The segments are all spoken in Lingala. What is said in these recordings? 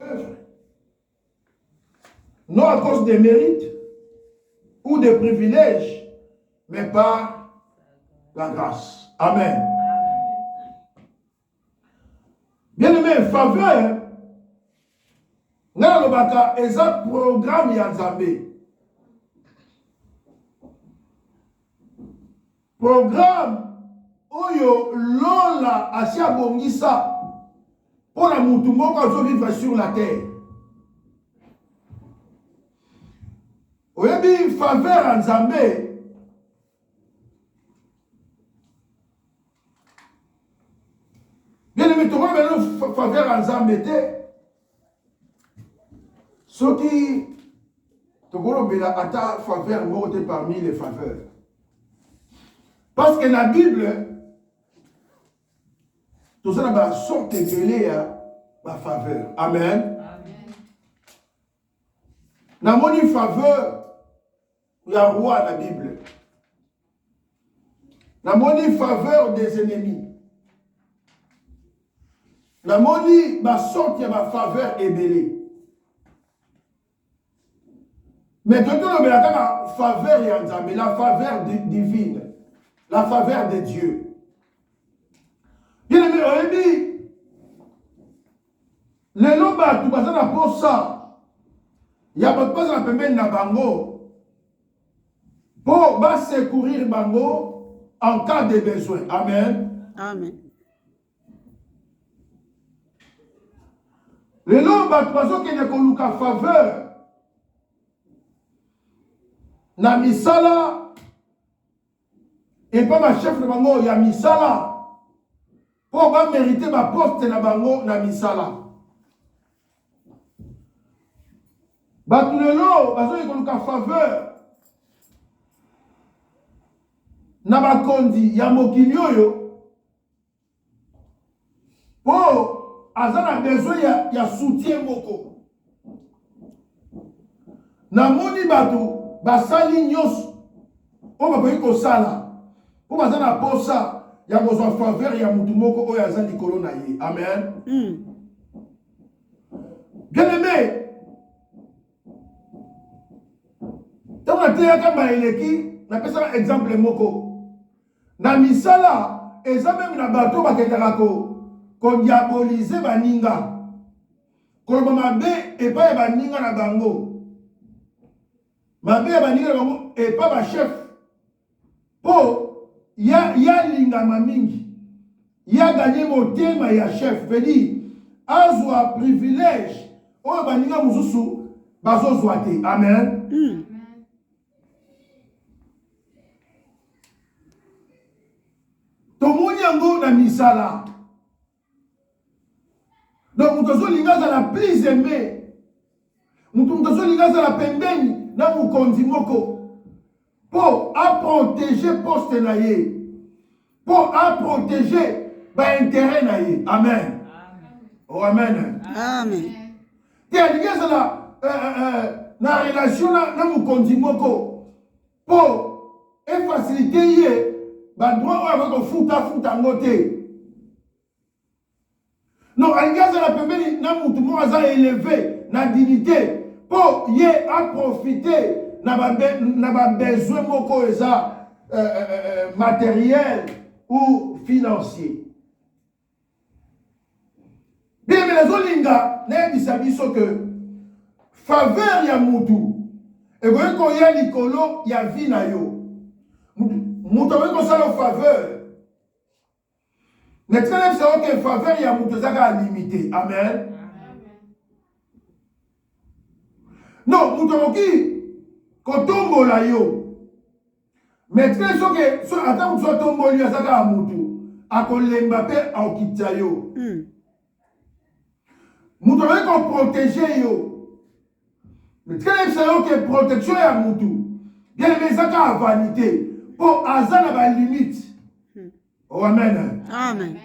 œuvre. Non à cause des mérites ou des privilèges, mais par la grâce. Amen. Bien aimé, faveur, nalobaka eza programme ya Nzambe. Programme oyo Lola asi abongisa mpo na mutu moko azo vivre sur la terre. Oyebi faveur ya Nzambe bien aimé tokomi bino faveur ya Nzambe te. soki tokolobela ata faveur moko te parmi les faveurs parce que na bible toza na basorte ebele ya bafaveur amen namoni faveur ya roi na bible namoni faveur des ennemis namoni basorte ya bafaveur ebele me toki tolobela kaka faveur ya nzambe la faveur divine la faveur de dieu bien aime oyebi lelo bato baza na mposa ya bato bazala pembeni na bango mpo basecourir bango en cas de besoin amen amen lelo bato bazokende koluka faveur na misala epa ba chef na bango ya misala po ba merite ba poste na bango na misala bato lelo bazali koluka faveur na bakonzi ya mokili oyo po aza na besoin ya, ya soutien moko namoni bato basali nyonso oyo bakoki kosala mpo baza na posa ya kozwa faveur ya motu moko oyo aza likolo na ye amen mm. bien aime ntango nateyaka mbala eleki napesaka exemple moko Na misala, eza meme na bato oyo bakendaka ko ko diaboliser baninga, koloba mabe epai ya baninga na bango, mabe ya baninga na bango epai ba chef, mpo ya ya lingama mingi, ya gagner motema ya chef, veut dire azwa privilège oyo baninga mosusu bazozwa te. Amen. tomoni yango na misala donc moto azolinga azala plus aime moto moto azolinga azala pembeni na mokonzi moko mpo aprotege poste na ye mpo aprotege baintere na ye amen o oh, amen te alingi ezala eh, eh, eh, na relation na mokonzi moko mpo efasilite ye badroit oyo akoki kofuta afuta yango te non alingi azala pembeni na mutu moko aza eleve na dignité mpo ye aprofite na babesoin moko oyo eza euh, euh, euh, matériel ou financier biyembe nazolinga nayebisa biso ke faveur ya mutu ekoki koya likolo ya vie na yo moto akoki kosala faveur natika na biso oke faveur ya moto eza kaka limite amen non moto akoki kotombola yo mais te soki ata moto atomboli aza kaka motu akolemba mpe akokitisa yo moto hmm. akoki koprotege yo Mais tika nayebisa yo ke protection ya mutu bien aime eza kaka vanité mpo aza na balimite hmm. oh, amen amen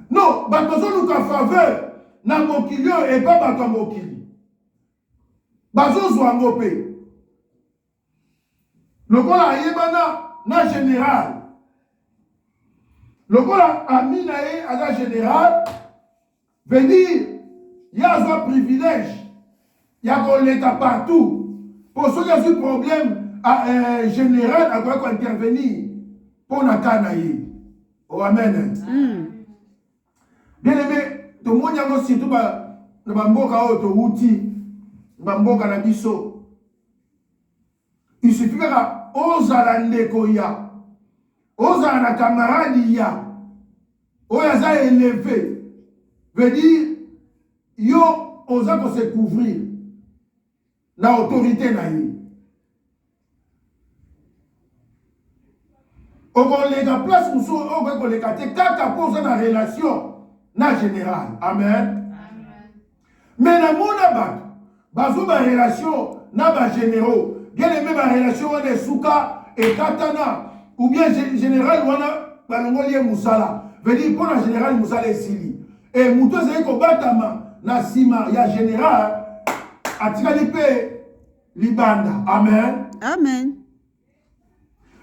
non bato bazoluka faveur na mokili oyo epa bato ya mokili bazozwa yango mpe lokola ayebana na general lokola ami na ye aza general veut dire ye azwa privilège ya koleka partout mpo soki azwi problème euh, général akoki kointervenir mpo na ka na ye o oh, amen mm. bien aime tomoni yango surtout na bamboka oyo towuti bamboka na biso isufi kaka ozala ndeko ya ozala na kamaradi ya oyo aza eleve veut dire yo oza kose couvrir na autorité na ye okoleka place mosusu oyo okoki koleka te kaka mpo oza na relation na général amen me namona bato bazwa barelation na bagénéraux bieleme barelation wana esuka ekatana ou bien général wana balongoli ye mosala vedi mpo na général mosala esili e moto ezali kobatama na nsima ya général atikali mpe libanda amen amen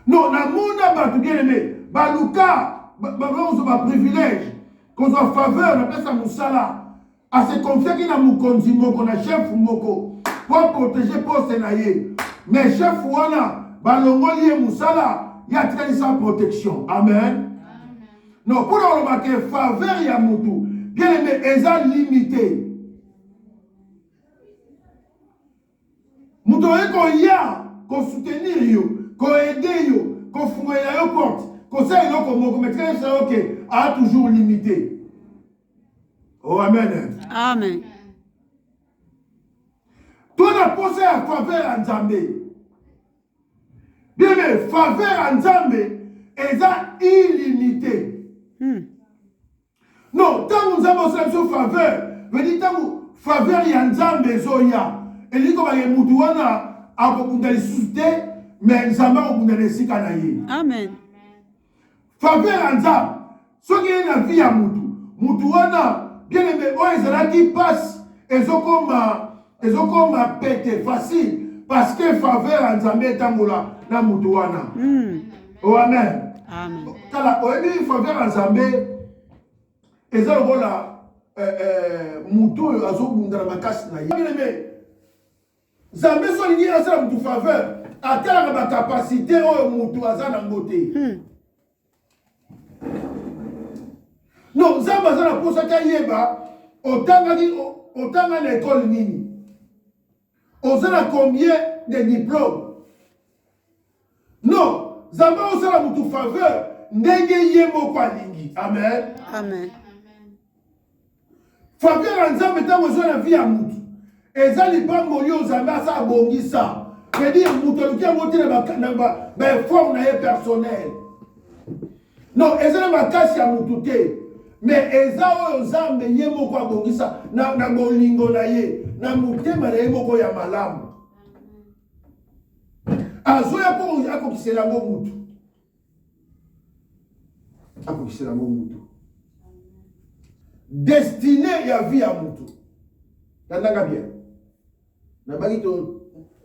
no namona bato bieleme baluka bakozwa baprivilège kozwa faveur na place ya mosala asekonfiaki na mokonzi moko na chef moko mpo aprotege poste na ye mais chef wana balongoli ye mosala ye atikali sans protection amen no mpona kolobaka faveur ya motu bieleme eza limite moto oye koya kosoutenir yo koede yo kofungolela yo porte kosala eloko moko metika yebisa yo ke a toujours limité o oh, amen amen to na mposa ya faveur ya nzambe biebe faveur ya nzambe eza illimité hmm. non ntango nzambe osala biso faveur vedi ntango faveur ya nzambe ezoya elingi kobake motu wana akobunda lisusu te me nzambe akobunda na esika na ye amen faveur ya nzambe soki ye na vie ya motu motu wana bien aime oyo ezalaki mpasi ezokoma ezokoma pete facile parce que faveur ya nzambe etambola na moto wana mm. oh, amen tala oyebi faveur ya nzambe eza lokola eh, eh, moto oyo azobunda na makasi na ye nzambe so alingi asala moto faveur atalaka bacapacité oyo moto aza nango te hmm. donc nzambe aza na mposa te ayeba otangaki otanga na ekole nini oza na combien de diplome non nzambe osala motu faveur ndenge ye moko alingi amen, amen. Facteur ya Nzambe ntango eza na vie ya mutu eza lipamboli oyo Nzambe asa abongisa c'est-à-dire moto aluki yango te na baeffort na ye personnel non eza na makasi ya motu te mais eza oyo nzambe ye moko abongisa na, na bolingo na ye na motema na ye moko ya malamu azoya mpo akokisela yango motu akokisela yango motu destine ya vie ya motu tandaka bien nabaki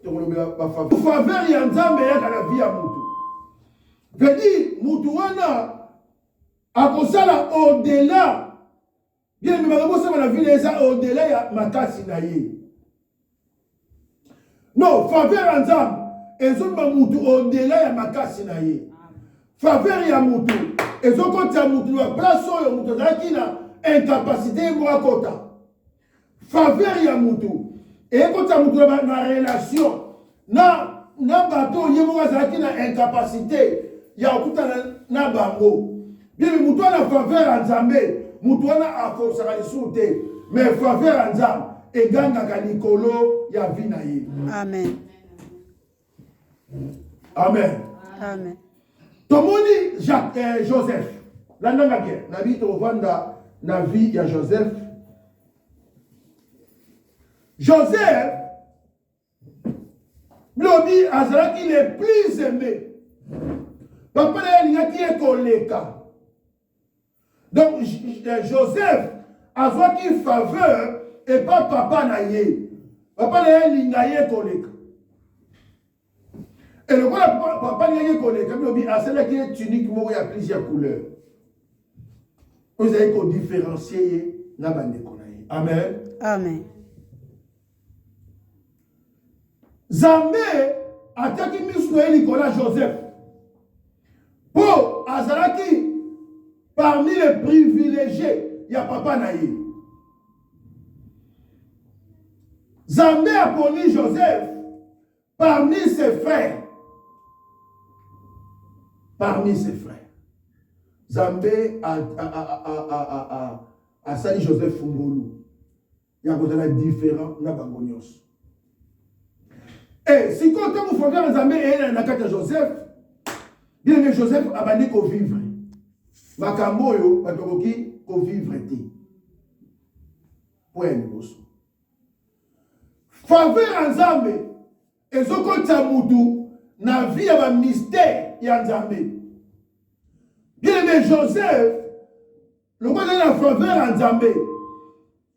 tokolobela bafaveur ya nzambe eyaka na vie ya motu vedi motu wana akosala au-delà bien mais makambo osala na vile eza au delà ya makasi na ye non faveur ya nzambe ezomema motu au delà ya makasi na ye faveur ya motu ezokotisa motu na place oyo motu azalaki na incapacité ye moko akota faveur ya motu eyekotisa motu na relation na, na bato oyo ye moko azalaki na incapacité ya kokutana na bango bibi moto wana faveur ya nzambe moto wana akosaka lisusu te mais faveur ya nzambe egangaka likolo ya vi na ye amen amen amen tomoni jacques eh, joseph landanga bien na bi tovanda na vie ya joseph joseph lobi azalaki le plus aimé papa na ye alingaki ye koleka donc euh, joseph azwaki faveur epa papa na ye papa na ye alinga ye koleka elokola papa na ye koleka bilobi asalaki ye tunique moko ya plusieurs couleur oyo ezali kodifférencie ye na bandeko na ye amen amen Zambe atiaki misu na ye likolo ya Joseph mpo azalaki parmi les privilégiés ya papa na ye. Zambe aponi Joseph parmi ses frères. Parmi ses frères. Zambe asali Joseph Fungulu. ya kozala différent na bango nyonso e sikoyo ntango faveur ya nzambe eyela na kati ya joseph bienge joseph abandi kovivre makambo oyo bato bakoki kovivre te mpo ya liboso faveur ya nzambe ezokotisa motu na vie ya bamystere ya nzambe bienge joseph lokola azali na faveur ya nzambe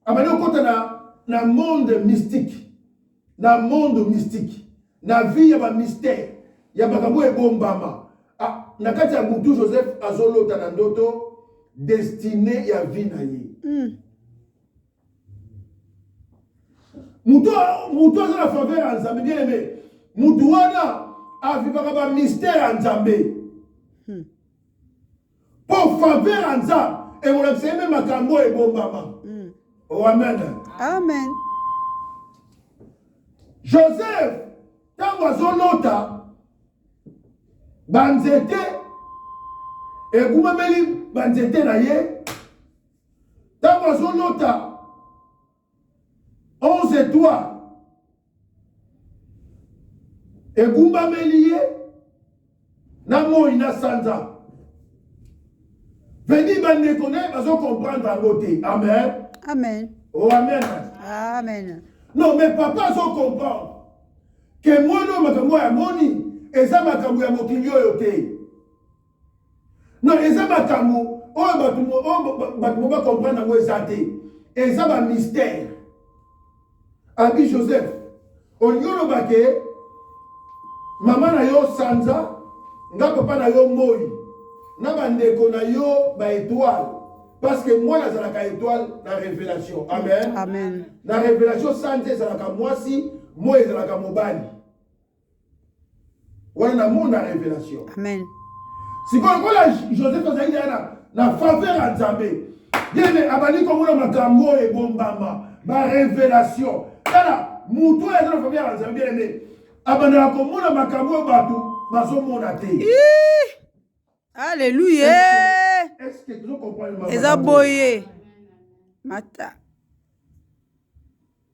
abandi kokota na, na monde mystique na monde mystique na vie ya bamystère ya makambo oyo ebombama ah, na kati ya butu joseph azolota na ndoto destine ya vie na ye mm. moto aza na faveur ya nzambe bien aime moto wana avivaka bamystère ya nzambe hmm. mpo faveur ya nzambe ekolakisa ye mpe makambo oyo ebombama mm. oh, amen amen joseph ntango azolota banzete ekumameli banzete na ye ntango azolota 11 etoiles egumbameli ye na moi na sanza vedi bandeko naye bazokomprendre yango te amen amen o oh, amen amen non mais papa azokomprendre ke mwana oyo makambo oyo amoni eza makambo ya mokili oyo te Non, eza makambo oyo bato mo bacomprendre yango eza te eza bamystère abi joseph olingi oloba ke mama na yo sanza nga papa na yo moi na bandeko na yo baetoile parce que mwana azalaka etoile na révélation amen, amen. na révélation sanza ezalaka mwasi moi ezalaka mobali wana na mona révélation amen sikoyo lokola joseph azalaki aya na faveur ya nzambe yene abandi komona makambo oyo ebombama barévélation tala moto oyo aza na faveur ya nzambe yene abandaka komona makambo oyo bato bazomona te alleluya eza boye mata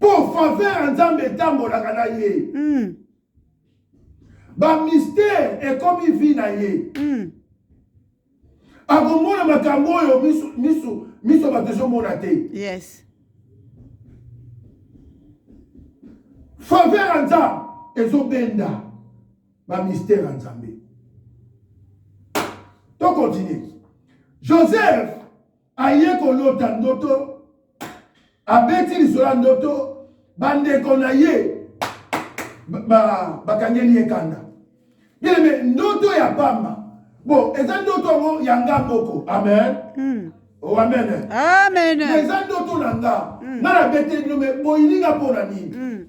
mpo faveur ya nzambe etambolaka na ye mm. bamystere ekomi vi na ye mm. akomona makambo oyo miso, miso, miso bato ezomona te yes. faveur ya nzambe ezobenda bamystere ya nzambe tokontinue joseph aye kolota ndoto abeti lisolo ya ndoto bandeko na ye bakangeli ye kanda bileme ndoto ya pamba bo eza ndoto yango ya nga moko amen mm. oh, amen amen eza ndoto na nga mm. nga nabeteli bino me boyininga mpo na nini mm.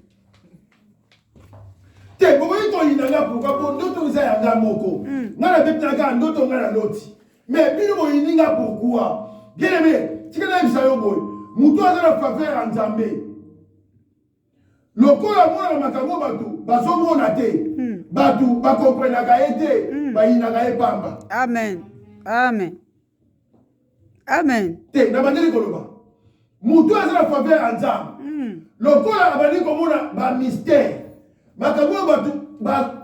te bokoki koyina nga pourkua mpo ndoto eza ya nga moko mm. nga nabetelaka ndoto nga na loti Mais bino boyini nga pourquoi? Bien aimé, tika nayebisa yo boye. Moto aza na faveur ya Nzambe. Lokola amonaka makambo bato bazomona te. Hmm. Bato bakomprenaka ye te, hmm. bayinaka ye pamba. Amen. Amen. Amen. Te, nabandeli koloba. moto aza na faveur ya nzambe hmm. lokola abandi komona bamystère makambo oyo bato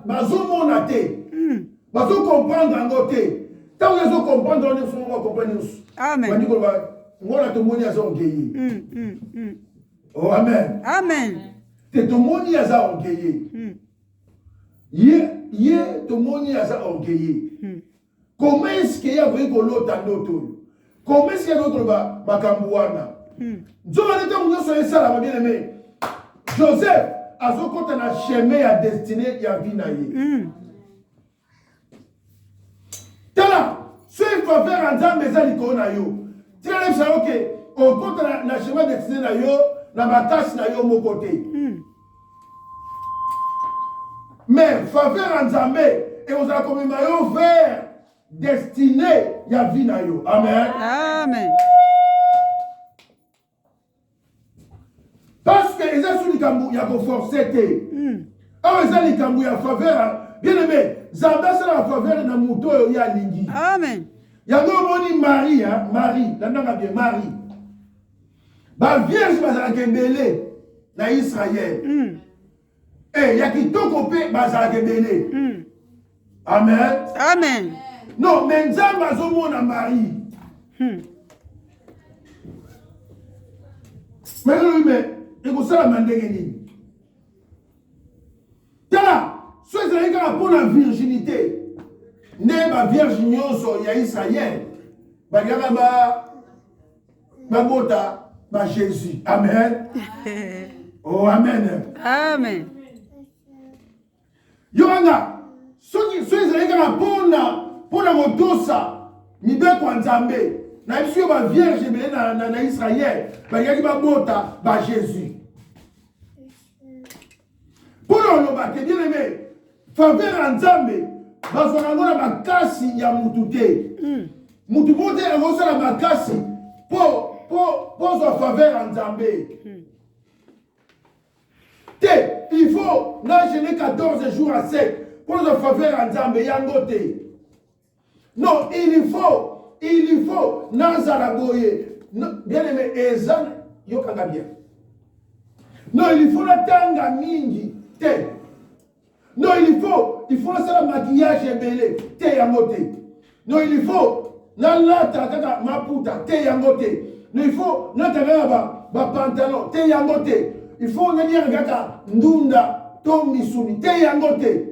bazomona te hmm. bazokomprendre yango te ntango ezokomprendre yango nyonso moko akomprendre nyonso bandi koloba ngona tomoni aza orgueille hmm, o oh, amen amen te tomoni aza orgueille ye ye tomoni aza orgueille Comment est-ce que ya koyi kolota ndoto oyo? Comment est-ce que ya koyi koloba makambo wana? Hmm. Nzoka nde ntango nyonso esalama bien aimé. Joseph azokota na chemin ya destinée ya vie na ye. Hmm. Tala, soki faveur ya Nzambe eza likolo na yo, tika yebisa yo ke okota na chemin destinée na yo na bakasi na yo moko te. Hmm. mais faveur ya nzambe ekozala komema yo vers destine ya vie na yo amen amen parce que eza su likambo ya koforce te hmm. awa eza likambo ya faveur bien aime nzambe asalaka faveur na moto oyo ye alingi amen yango omoni marie marie landaka bien marie ba vierge bazalaka ebele na israel mm. e ya kitoko mpe bazalaka ebele mm. amen amen non me nzambe azomona marie hmm. melolobi me ekosalama ndenge nini tala so ezalaki kaka mpo na virginité nde bavierge nyonso ya israel balingaka ba babota ba Jésus. Amen. oh amen. Amen. Yohana soki soki ezali kaka mpona mpona kotosa mibeko ya Nzambe na biso yo ba vierge ebele na, na, na Israël balingaki babota ba Jésus. Mpo na oloba te bien aime, faveur ya Nzambe bazwaka yango na makasi ya mutu te. Hmm. Mutu moko te akosala makasi mpo mpo mpo ozwa faveur ya Nzambe. Hmm. te il faut na gene 14 jours à sec mpo ozwa faveur ya nzambe yango te non il faut il faut nazala boye bien aimé eza yokanga bien non il faut natanga mingi te non il faut il faut nasala maquillage ebele te yango te non il faut nalata kaka maputa te yango te non il faut nata kaka bapantalon te yango te il faut naliaka kaka ndunda to misuni te yango te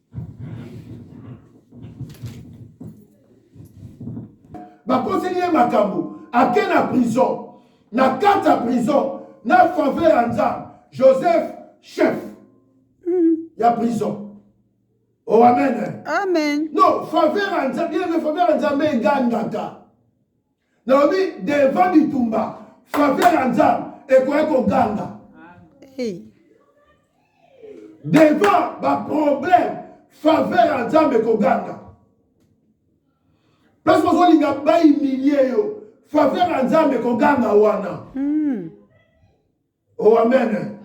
bakoseli ye makambo ake na prison na kati ya prison na faveur ya nzambe joseph chef hmm. ya prison o oh, amen amen no faveur ya nzambe ye nde faveur ya nzambe egangaka nalobi devant bitumba faveur ya nzambe ekoya koganga devant baproblème faveur ya nzambe ekoganga place ozolinga baimilie yo faveur ya nzambe ekoganga wana hmm. o oh, amen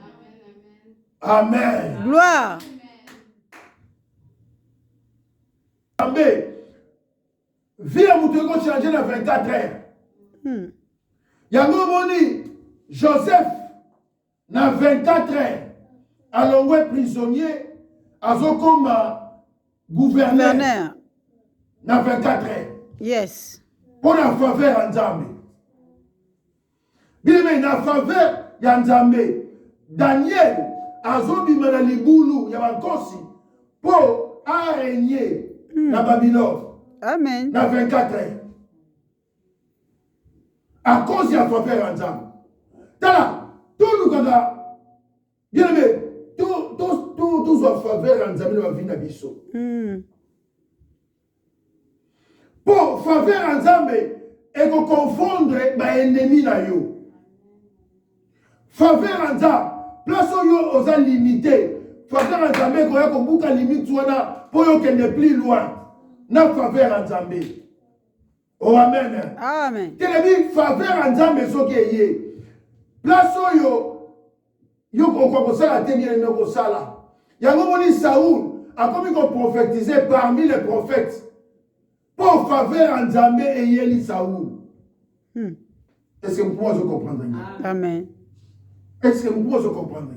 amen gloire nzambe vie ya moto eko change na 24 heure hmm. yango omoni joseph na 24 heure alongwe prisonnier azokoma gouverneur na 24 heure yes mpo na faveur ya nzambe Bien-aimé, na faveur ya Nzambe, Daniel azobima na libulu ya bankosi mpo aregne mm. na Babylone. Amen. Na 24 heures. À cause ya faveur ya Nzambe. Tala, tolukaka bien-aimé, tozwa faveur ya Nzambe na bavi na biso. Mm. Po faveur ya Nzambe eko confondre ba ennemis na yo. Faveur ya Nzambe place oyo oza limite, faveur ya Nzambe ekoya kobuka limite wana po yo kende plus loin na faveur ya Nzambe. Oh, amen. Amen. Telemi faveur ya Nzambe soki eye. Place oyo yo kokoka kosala te bien aimé kosala. Yango moni Saul akomi ko prophétiser parmi les prophètes. Pour faveur ya Nzambe eyeli Saul. Hmm. Est-ce que vous pouvez comprendre? Amen. Est-ce que vous pouvez comprendre?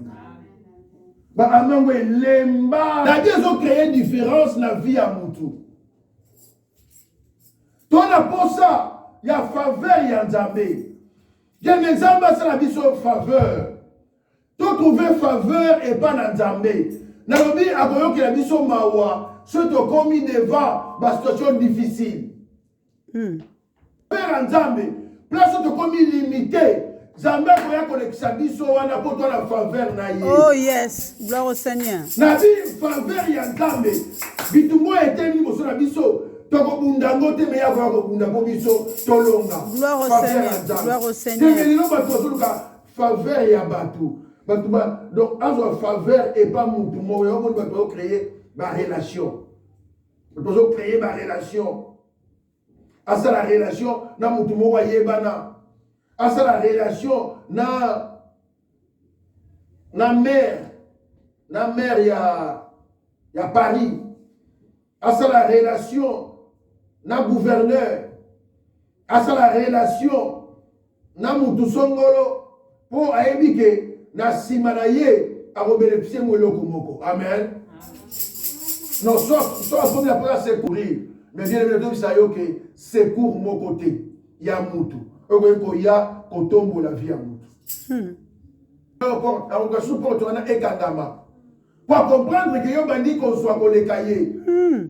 baango elemba dadi ezocreye différence na vie ya motu to na mposa ya faveur ya nzambe kende nzambe asala biso faveur to trouve faveur epai na nzambe nalobi akoyokela biso mawa soki tokomi devant basituation difficile mm. Père ya Nzambe, place oyo tokomi limite, Nzambe akoya kolekisa biso wana mpo twa na faveur na ye. Oh yes, gloire au Seigneur. Na bi faveur ya Nzambe, bitumba oyo eteli liboso na biso, tokobunda yango te meya akoya kobunda mpo biso tolonga Gloire au faveur ya Seigneur, Nzambe. gloire au Seigneur. Ndenge lelo bato bazoluka faveur ya bato bato ba donc azwa faveur epa motu moko yango moni bato bazocreye barelation bato bazocreye barelation asala relation na motu moko ayebana asala relation na na maire na maire ya ya paris asala relation na gouverneur asala relation na mutu songolo mpo ayebi ke na nsima na ye akobenefise yango eloko moko amen non so akomi na mpona secourir mais bien ebi natobisa yo ke secour moko te ya mutu okoki koya kotombola vie ya mutu hmm. akoka su porte wana ekangama po akomprendre ke yo bandi kozwa koleka ye hmm.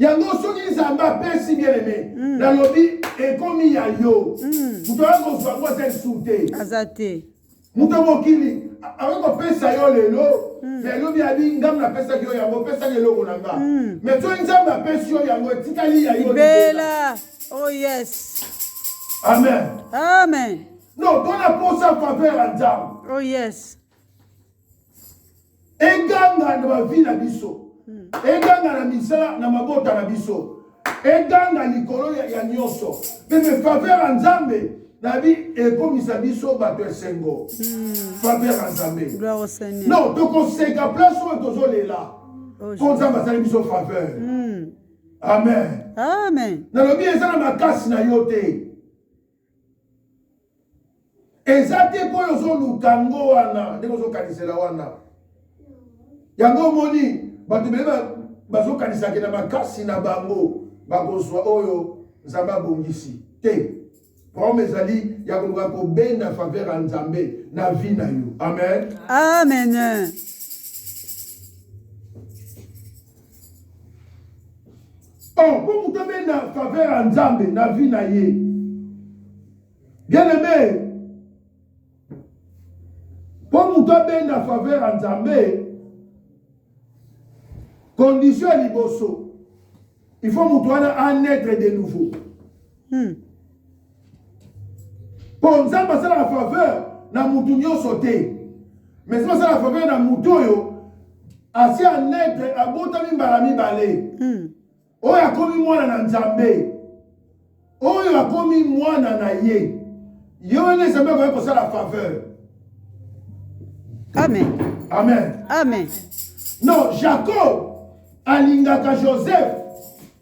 yango soki nzambe apesi bien aime mm. nalobi ekomi ya yo mm. moto aza kozwa ngo aza lisusu te aza te moto mokili akoki kopesa yo lelo mm. ya elobi abi ngambo napesaki yo yango opesaki eloko na nga mai soki nzambe apesi yo yango etikali ya yo bela oh yes amen amen non tona posa faveur ya nzambe oh yes eganga na bavi na biso hmm. eganga na misala na mabota na biso eganga likolo ya nyonso mpe befaveur ya nzambe nabi ekomisa biso bato ya esengo hmm. faveur ya nzambe no tokoseka place oyo tozolela oh, mpo nzambe asali biso faveur hmm. amen nalobi eza na makasi na yo te eza te mpo oyo ozoluka yango wana ndenge ozokanisela wana yango omoni bato bele bazokanisake na makasi na bango bakozwa oyo nzambe abongisi te problème ezali ya koluka kobenda faveur ya nzambe na vie na yo amen amen Oh, mpo moto abenda faveur ya nzambe na vie na ye bien aime mpo moto abenda faveur ya nzambe condition ya liboso il faut moto wana anetre de nouveau Hmm. Mpo Nzambe asalaka faveur na mutu nyonso te. Mais soki asala faveur na mutu oyo asi anetre abotami mbala mibale. Hmm. Oyo akomi mwana na Nzambe. Oyo akomi mwana na ye. Ye wana Nzambe akoki kosala faveur. Amen. Amen. Amen. Non, Jacob alingaka Joseph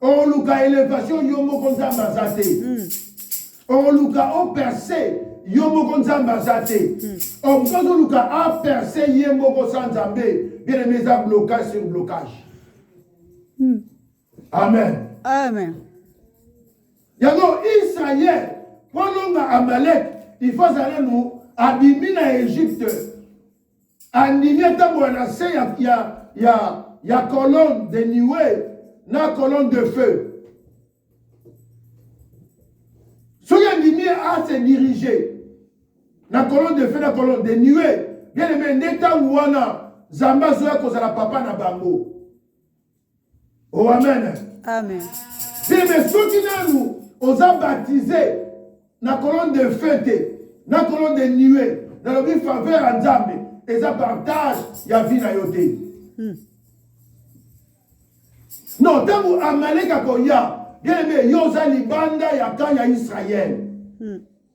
oluka elevation yo moko nzambe aza te hmm. oluka operse yo moko nzambe aza te hmm. omosusu azoluka aperse ye moko sa nzambe bien aime eza blocage sur blocage hmm. amen amen yango israel mpo alonga amalek il faut azala no abimi na egypte andimi atambola na se ya, ya, ya, ya colonne de nuée na colonne de feu soki andimi ase dirige na colonne de feu na colonne de nuée bien aime nde ntango wana nzambe azoya kozala papa na bango o oh, amen amen te me soki nanu oza baptise na colonne de feu te na colonne de nuet nalobi faveur ya nzambe eza partage ya vie na yo te hmm. non ntango amaleka koya bien aime yo oza libanda ya kan ya israele hmm.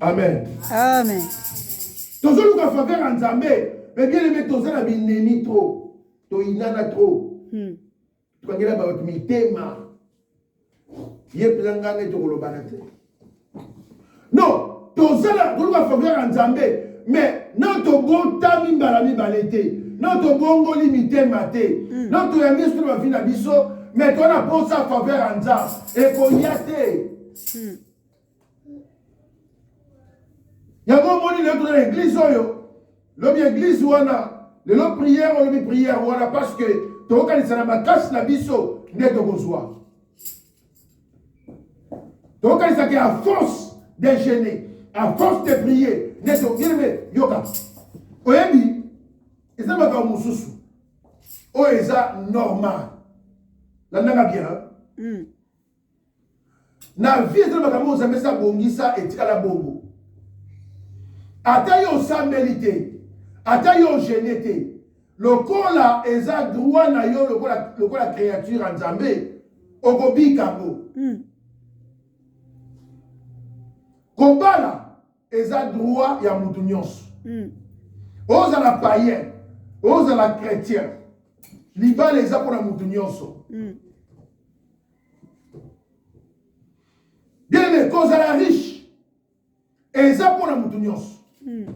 amen amen tozoluka faveur ya nzambe me bien aime toza na binemi trop toyinana trop hmm. tokangela bato mitema ye mpenza ngai nde tokolobana te non tozala toluka faveur ya nzambe me na tobotami mbala mibale te na tobongoli mitema te hmm. na toyambi esu na bavi na biso me toza na mposa faveur ya nzambe ekoya te Hmm. yango omoni lelo tozala eglise oyo lobi eglise wana lelo prière olobi prière wana parce que tokokanisa na makasi na biso nde tokozwa tokokanisaka ya force de gene a force de prier nde toyeleme yoka oyebi eza makambo mosusu oyo eza normal landaka bien hmm. na vie ezali makambo ozambe esi abongisa etikala bongo ata yo osambeli te ata yo ogene te lokola eza droit na yo lokola, lokola créature ya nzambe okobika yango mm. kobala eza droit ya mutu nyonso mm. ozala païen ozala chrétien libala eza mpo na mutu nyonso mm. biene kozala riche eza mpo na mutu nyonso mm.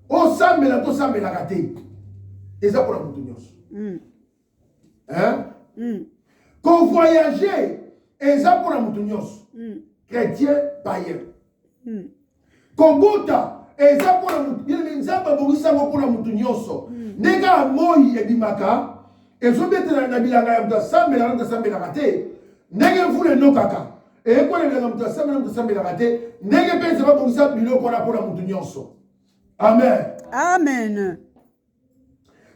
osambela tosambelaka te eza mpo na mutu nyonso mm. hein ko voyager eza mpo na moto nyonso chrétien païen kobota eza mpo na moto bien nzambe abongisi yango mpo na moto nyonso ndenge ya moi ebimaka ezobetela na bilanga ya moto asambelaka moto asambelaka te ndenge mvula enokaka eyekola bilanga moto asambela moto asambelaka te ndenge mpe eza babongisa biloko wana mpo na moto nyonso amen amen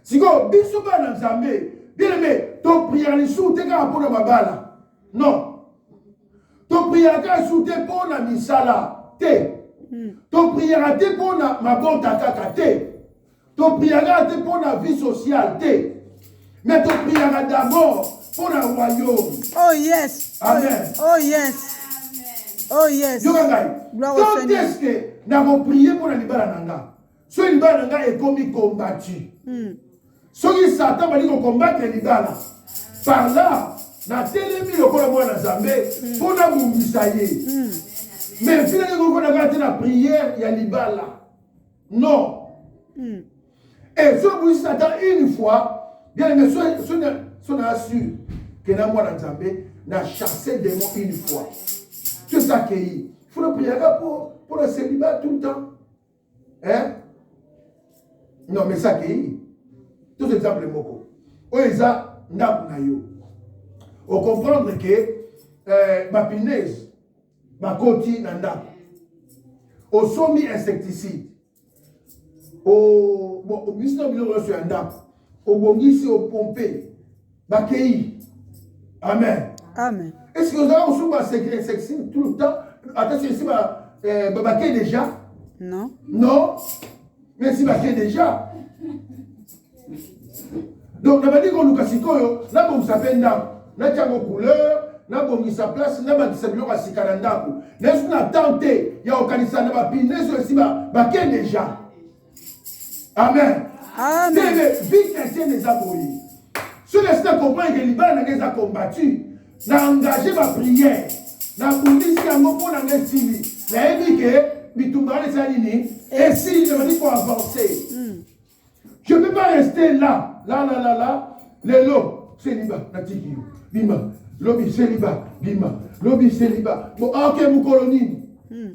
sikoyo biso bana nzambe bieleme topriere lisusu te kaka mpo na mabala non topriere kaka lisusu te mpo na misala te hmm. topriere te mpo na mabota kaka te topriere kaka te mpo na vie sociale te me topriere d'abord mpo na royaume oh yes amen oh yes oh yes yoka ngai to teske nakoprie mpo na libala na nga soki libala na ngai ekomi kombati hmm. soki satan bali kokombate libala par là natelemi lokola mwana nzambe hmm. mpo nabundisa ye hmm. mais finaki kokona kaka te na prière ya libala non et soki obundisi satan une fois bien aime so na assure ke na mwana nzambe na chasse démon une fois soki akei fona priaka mpo na celibat tout le temps eh? non mais ça akei tous exemple moko oyo eza ndako na yo ocomprendre ke eh, bapinese bakoti na ndako osombi insecticide obimisi na biloko nyonso ya ndako obongisi opompe bakei amen amen est ce que ozala kosuku basecret sexing tout le temps ata soki esi eh, bakei déjà non non mais esi bakei déjà donc nabandi koluka sikoyo nabongisa mpe ndako natya yango couleur nabongisa place nabakisa biloko ya sika na ndako nasuki na temps te ya kokanisa na bapine ezo esi bakei déjà amen ndenge vie chrétienne eza boye soki esi na comprendre ke libala na ngai eza combattu na engage baprière nabundisi yango mpo na ngai esili nayebi ke bitumba wana eza nini esili namani koavance hmm. je peux pas rester là là là là là lelo seliba natiki yo bima lobi seliba bima lobi seliba bo ah, ok mokolo nini hmm.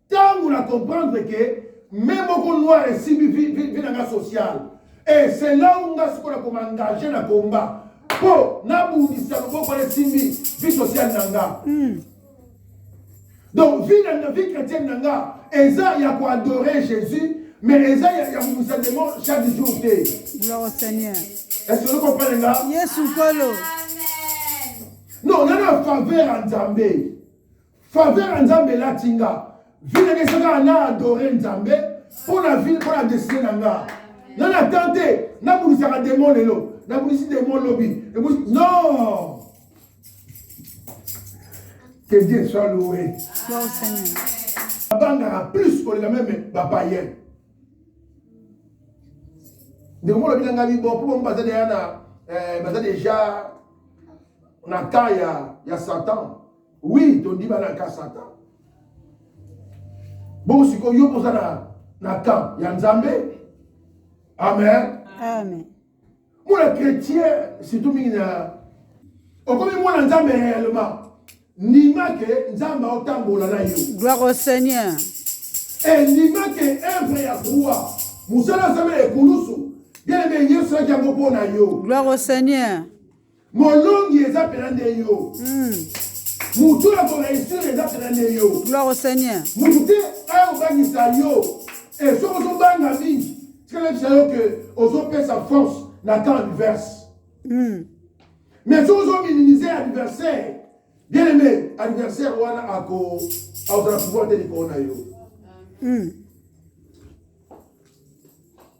Tango na comprendre que même moko noir esimbi vie vie na nga sociale et c'est là où nga sikoyo na komangager na combat mpo nabundisa loboko na esimbi vie sociale na nga hmm. donc vie na vie chrétienne na nga eza ya koadore jésus mais eza ya kobundisa demo chaque jour te gloire seigneur est-ce que okompane nga yesu nkolo non nga na faveur ya nzambe Faveur ya Nzambe elati nga. Vie na ngai kaka na adore Nzambe mpo na vie mpo na destine na nga. Nga na temps te nabulisaka demon lelo nabulisi demon lobi ebulisi non que Dieu soit loué. Abangaka plus koleka meme bapayene ndeko moko alobi na ngai bibo mpo bango baza deja na baza deja na cas ya, ya satan Oui, tondi bana ka Satan. Bon, si ko yo poza na na camp ya Nzambe. Amen. Amen. Mwana chrétien surtout mingi na okomi mwana Nzambe réellement. Ndima ke Nzambe aotambola na yo. Gloire au Seigneur. Et ndima ke œuvre ya croix. Musala Nzambe ekulusu. Bien aimé Yesu akia mpo na yo. Gloire au Seigneur. Molongi eza pena nde yo. Hmm. Mutu ya koreisir eza pena nde yo. Gloire au Seigneur. Mutu te ayobangisa yo. E eh, soki ozobanga mingi, tikala bisa yo ke ozopesa force na temps adverse. Hmm. Mais soki ozominimize adversaire, bien aimé, adversaire wana ako akozala pouvoir te likolo na yo. Hmm.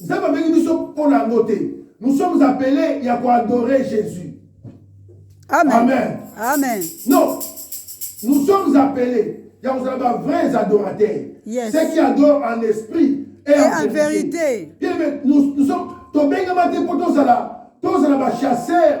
Nzambe abengi biso mpo na yango te. Nous sommes appelés ya ko adorer Jésus. Amen. Amen. Amen. Non. Nous sommes appelés ya kozala ba vrais adorateurs. Yes. Ceux qui adorent en esprit et, et en, en vérité. vérité. Bien, mais nous, nous sommes tobengama te mpo tozala tozala ba chasseurs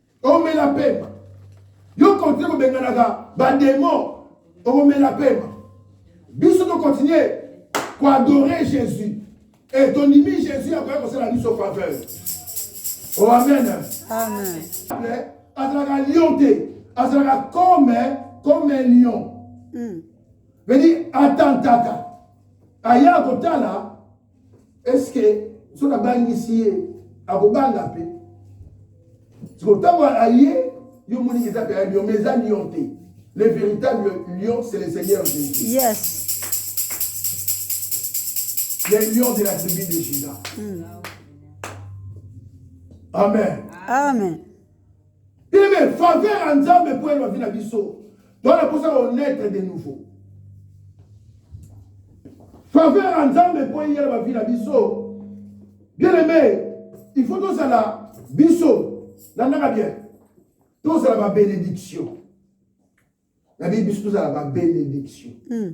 omela pema yo continue kobenganaka bademo okomela pema biso tokontinue koadore jésus e tondimi jésus akoya kosala biso faveur o oh, amen azalaka lion te azalaka comme comme lion hmm. vedi atantaka aya kotala eske soki abangisi ye akobanga mpe siko ntango aye yo moni eza mpe ya lion mais eza lion te le véritable lion c'est le seigneur jésus yes les lions de la tribu de Judas. Mm. Amen. Amen. Teme faveur ya Nzambe mpo yeba vie na biso. Toza na posa ko naître de nouveau. Faveur ya Nzambe mpo yela ba vie na biso. Bien aimé, il faut tozala biso landaka bien. Tozala ba bénédiction. Na biso tozala ba bénédiction. Mm.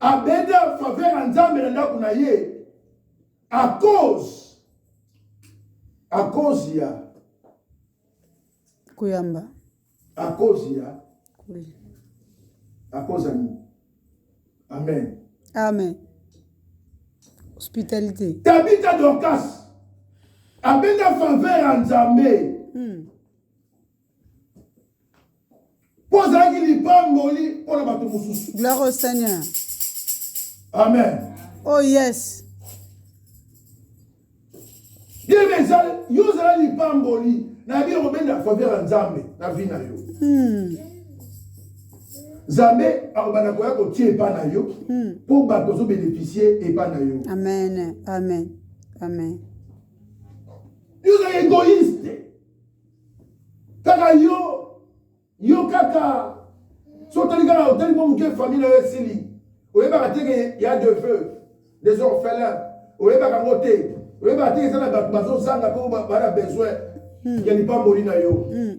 abende en faveur ya nzambe na ndako na ye à cause à cause ya koyamba à cause ya à cause ya nini amen amen hospitalité tabita dorcas abenda faveur ya nzambe hmm. mpo azalaki lipamboli mpo na bato mosusu gloire au seigneur amen oh yes yebe ezali yo ozala lipamboli nayebi okobenda faveur ya nzambe na vi na yo hmm. nzambe akobanda koya kotia epa na yo hmm. mpo bato ozobeneficie epa na yo amen amen amen yo ozali egoïste kaka yo yo kaka so otali kaka otali mwa moke famille na yo esili oyebaka te ke ya de feu des orphelins oyebaka yango te oyebaka te eza na bato bazozanga mpo bana besoin hmm. ya lipamboli na yo hmm.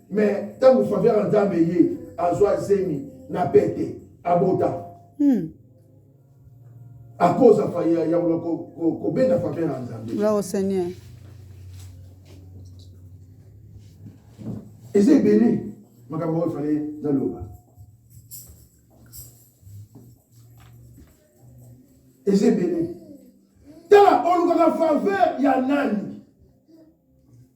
mais ntango faveur ya nzambe eye azwa zemi na pete abota hmm. akoza faya ya kobenda faveur ya nzambe bravo seigneur eza ebele makambo oyo fale naloba eza ebele tala olukaka faveur ya nani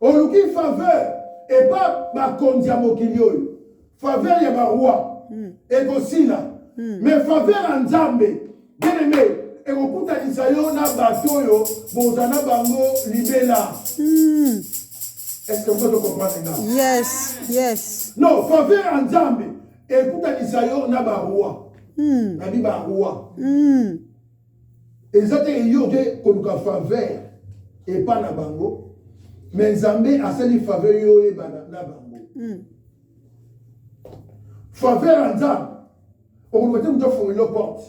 oluki faveur epa bakonzi ya mokili oyo faveur ya baroi hmm. ekosila hmm. mais faveur ya nzambe bien aime ekokutanisa yo na bato oyo boza na bango libela hmm. est-ce que vous comprenez nga yes yes non faveur ya nzambe ekutanisa yo na baroi nabi baroi eza te yo oke koluka faveur epa na bango me nzambe asali faveur yo oyebana na bango mm. faveur ya nzambe okoluka te moto afungolelo porte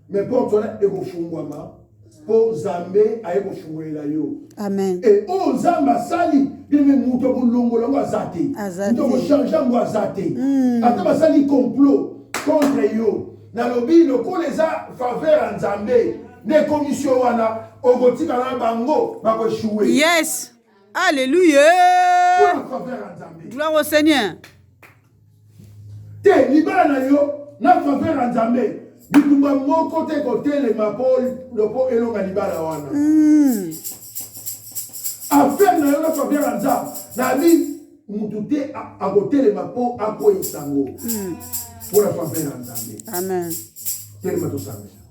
me porte wana ekofungwama mpo nzambe aye kofungolela yo amen e oyo oh, nzambe asali bino moto akolongola yango aza te moto akochange yango aza te hmm. ata basali complot contre yo nalobi lokola eza faveur ya nzambe nde ekomisi yo wana okotikala na bango bakoeshue yes alleluya faveur ya nzambe gloire au seigneur te libala na yo na faveur ya nzambe bitumba moko te kotelema mpo elonga libala wana hmm. affaire na yo na faveur ya nzambe nabi moto te akotelema mpo akweisa yango hmm. mpo na faveur ya nzambe amen telema tosambela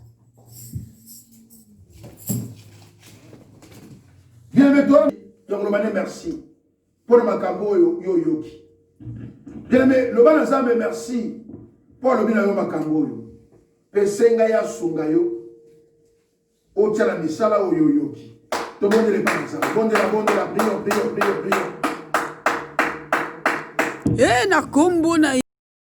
bienve to yakoloba ne merci mpo na makambo oyo yo oyoki bienve loba na nzambe merci mpo alobi na yo makambo oyo mpe senga ye asunga yo Otia na misala oyo oyoki. Tobondela epai na Nzambe. Bondela, bondela, prions, prions, prions, prions. Ee, na nkombo na